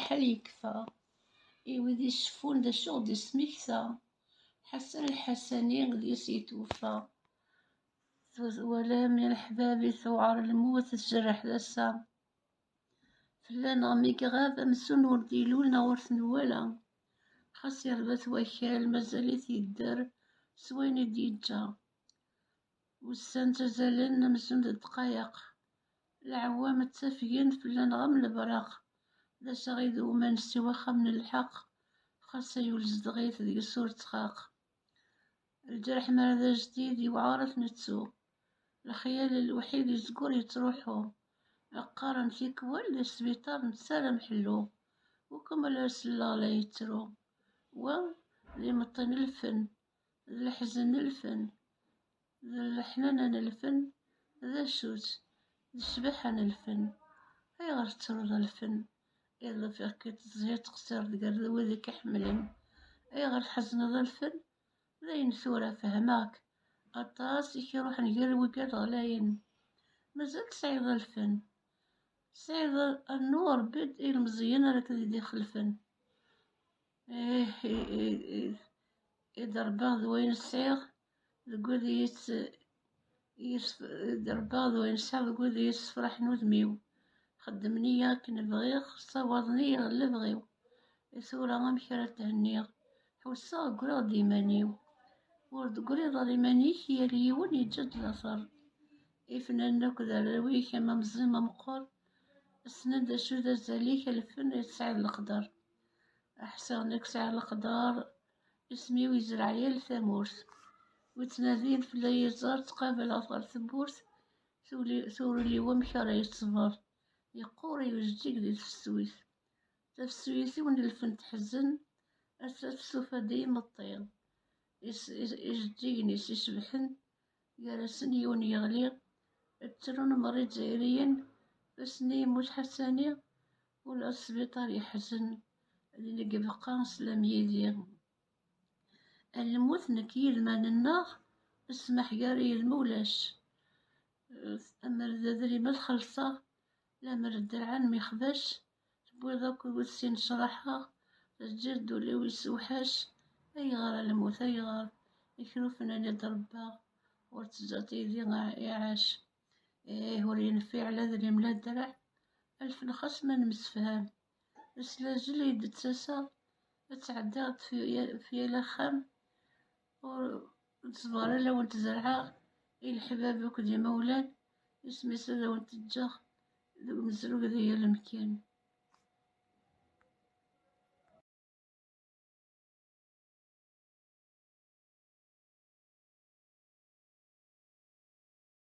Ḥal yekfa, i wid iceffun d acu ɣ-d ismekta, Ḥasan Lḥasani deg-s yetweffa. Twalam i leḥbab i tewɛer lmut, tjerreḥ tasa. Fell-aneɣ mi iɣab, amzun ur d-ilul neɣ ur t-nwala. Xas yerba-t wakal, mazal-it yedder s wayen i d-yeǧǧa. Ussan ttazalen amzun d ddqayeq, lɛewwam ttafgen fell-aneɣ am lebraq, d assaɣ i d umanes i waxxam n lḥeqq, xas ay ul zedɣit deg-s ur ttxaq. Lǧerḥ mi ara d ajdid yewɛer ad t-nettu, lexyal lewḥid yezgur yettruḥu, qqaren tikwal d asbiṭar nettaram ḥellu, ukumel ur selleɣ la yettru, wa d imeṭṭi n lfen d leḥzen n lfen, d leḥnana n lfen, d asut, d ccbaḥa n lfen. Ayɣer tettruḍ lfen? Iḍ ufiɣ-k-id tezhiḍ teqsireḍ gar d wid i k-iḥemmlen. Ayɣer tḥezneḍ lfen? D ayen tura fehmeɣ-k. Aṭas i k-iruḥen gar wigad ɣlayen. Mazal tesɛiḍ lfen. Tesɛiḍ rnu rebbi-d ilemẓiyen ara k-id-ixelfen. Eh, eh, eh, eh. i d-rebbaɣ d wayen sɛiɣ deg wid i yi-tt- i yi-s- i d-rebbaɣ d wayen sɛiɣ deg wid i yessefraḥen udem-iw xeddmen-iyi akken bɣiɣ ssawaḍen-iyi ɣer lebɣi-w i tura amek ara thenniɣ ḥusseɣ ggriɣ-d iman-iw ur d-tegriḍ ɣer iman-ik yal yiwen yeǧǧa-d later ifnan akk d arraw-ik am amẓim ameqqer ssnen d acu d azal-ik alfen i tesɛiḍ leqder Ḥṣiɣ nekk sɛiɣ leqder, isem-iw yezreɛ yal tamurt. Wi ttnadin fell-i yiẓer, ttqabaleɣ-t ɣer tewwurt, turil-iw amek ara yeṣber. Yeqqur iwejjig di tefsut, tafsut-iw n lfen teḥzen, ass-a testufa-d i imeṭṭi. Ijeǧǧigen-is icebḥen, gar-asen yiwen yeɣli, ttrun meṛṛa izzayriyen, tussni Muc Ḥassani, ula s sbiṭar yeḥzen, din i ibeqqa sslam yid-i. A lmut nekk yilman-nneɣ, ssmaḥ gar yil ma ulac. Amer d adrim ad xellṣeɣ, lamer dderɛen mixbac, tewwiḍ akk iwet-sin sraḥeɣ tezziḍ-d ul-iw yessewḥac ayɣer a lmut ayɣer ikrufen a d-rebbaɣ ur tezzaḍ yidi iɛac ih ur yenfiɛ la drim la draɛ alfen xas ma nemsefham aslazul i d-ttaseɣ ad tɛeddaɣ-d f yal axxam Ur ttẓar ala wen tzerɛeɣ i leḥbab akked yimawlan, isem-is ad awen-t-ǧǧeɣ deg umezruy di yal amkan.